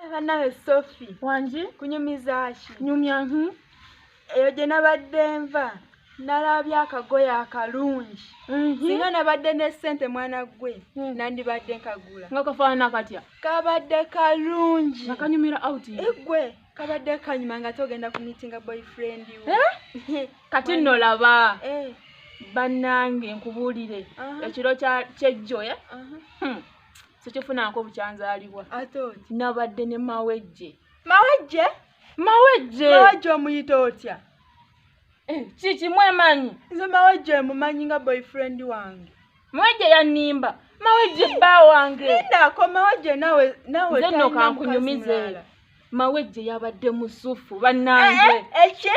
Eh, banawe sofi wangi kunyumizaki nyumya nhi eyo gye nabadde nva nalabye akagoye akalungi singa nabadde ne ssente mwana gwe hmm. nandibadde nkagula nga kafaanana katya kabadde kalungi nga kanyumira out egwe eh, kabadde kanyuma nga togenda ku meetinga boyfriend eh? kati nno laba bannange nkubuulire ekiro kyejjoya sikifunaako bukyanzaalibwa ate oti nabadde ne mawejje mawejje mawejje mawejje omuyita otya eh, kiki mwemanyi nze mawejje mumanyi nga boyfriend wange mawejje yanimba mawejje bba wange ndako mawejje nawe nawe nze nno kankunyumize mawejje yabadde musufu bannange eh, eh, eki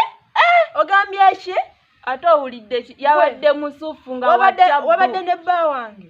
ogambye eki ate owulidde ki yabadde musufu nga wabadde ne bba wange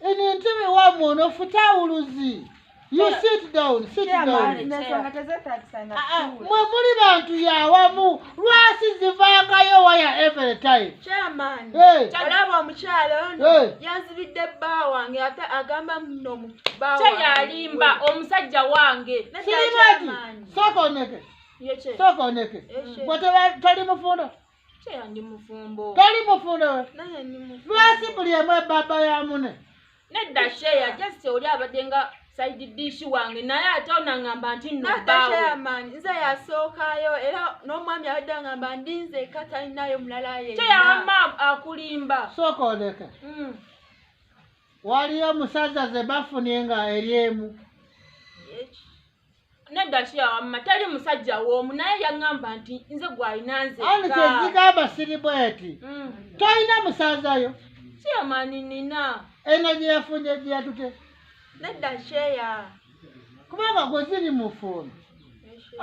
eno entebe wamwe onofuta awuluzi you sit down sit down mwe muli bantu yawamu lwasi zivangayo waya every time olaba omukyalo ono yanzibidde bba wange ate agamba muno mubbawayalimba omusajja wange sokoneke sokoneke bwe tali mufunda Kyeyandi mufumbo. Toli mufumbo. Naye ndi mufumbo. Lwaki buli emu ebaba ya mune? Nedda sheya just oli abadde nga side dish wange naye ate onangamba nti nobawemaani nze yasookayo era n'omwami abadde angamba ndi nze ka talinayo mulala yeyama akulimba sooka oleke mm. waliyo omusajja ze bafunye nga eri emu nedda kiyawamma tali musajja woomu naye yaŋŋamba nti nze gwalina nzekandi kyezigamba siri bweti mm. tolina musanzayo kiyamani nina eno gye yafunye gye yatute nedda kyeya kubanga gwe ziri mufumbo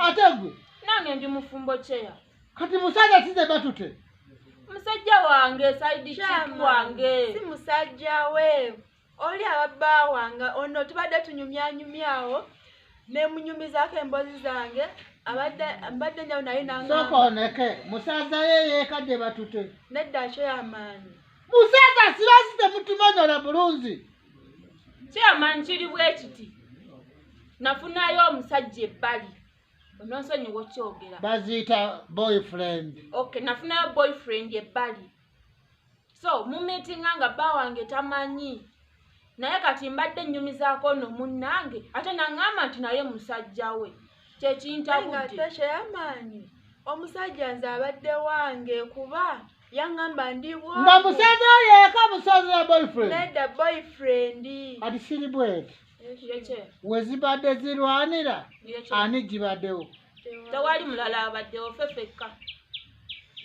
ate gwe nange ndi mufumbo kyeya kati musajja size batute musajja wange saidi wange si musajja we oli ababbaawa nga ono tubadde tunyumyanyumyawo nemunyumizako embozi zange mbadde njawo naye nasokoneke musaza ye yekadde batute nedda kyo yamaanyi musaza sirasi temutumanyola bulunzi kyamanyi kiri bwekiti nafunayo omusajja ebbali ononsonyiwa okyogera baziyita boyfriend ok nafunayo boyfriend ebbali so mumitinga nga bba wange tamanyi naye kati mbadde nnyumizaako no munnange ate naŋŋamba nti naye musajja we kyekintabuddeamaanyi omusajja nze abadde wange kuba yaŋŋamba ndi nga musajja oyo eka musaza ya boyfriend nedda boyfriend ati siri bwete wezibadde zirwanira ani gibaddewo tewali mulala abaddewo fe fekka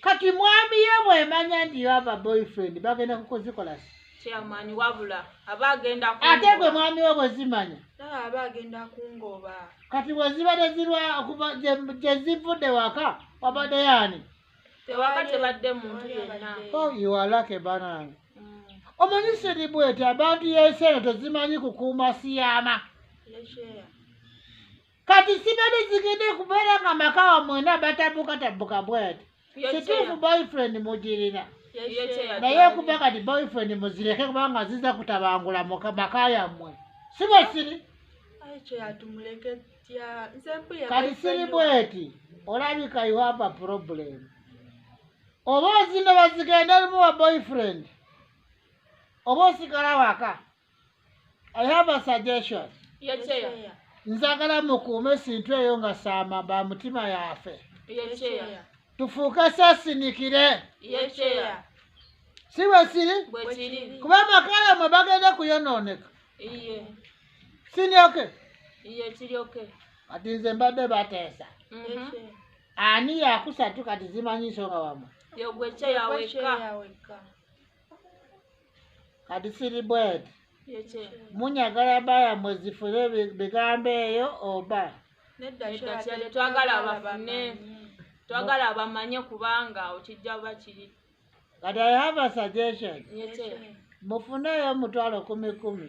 kati mwami ye mwemanya nti yoava boyfriend bagenda kukozikola chairman wabula aba agenda ate gwe mwami we bwezimanya aba agenda kungoba kati bweziba tezirwa okuva gyezivudde waka wabadde yaani tewaka tebadde muntu yenna oh, iwalake banange mm. omanyi siri bwete abantu yensi eno tezimanyi kukuuma siyama kati sibade zigende kubeera nga maka wa mwena batabukatabbuka bwati kituufu boyfriend mugirina naye okuba kati boyfriend muzireke kubanga ziza kutabangula maka yammwe siba siri kati siri bweti olabika you have a problem oba ozina bazigenda limu wa boyfriend oba osigala waka I have a suggestion. Your chair. Nzagala mukuume esintu eyo nga saama ba mutima yafe. Your chair. Tufuuke sasinikire. Your chair. Si bwe kiri? Bwe kiri. Kuba amaka yamwe bagenda kuyonooneka. Iye. Sini oke? Iye kiri oke. Kati nze mbadde bateesa. Mhm. Ani yakusatu kati zimanyi nsonga wamwe. Yogwe chair weka. kati siri bweti munyagala baya mwezifule bigambo eyo oba twagala abafune twagala abamanye kubanga okijja bakiri kati i have a suggestion mufuneeyo omutwalo kumi kumi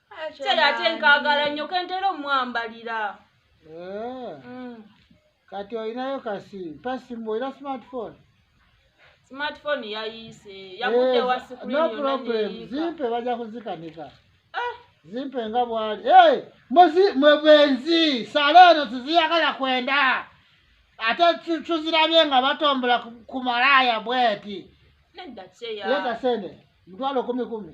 kyera ate nkagala nnyo kentera omwambalira eh. mm. kati olinayo kasi pasimbu olina smartphone smartphone yayise yakude eh, wasikuno problem zimpe baja kuzikanika ah. zimpe nga bwali hey, muzi mwebenzi saleno tiziyagala kwenda ate tuzirabye nga batombola ku malaya bweti nedda kyeya leta sene mtwalo kumi kumi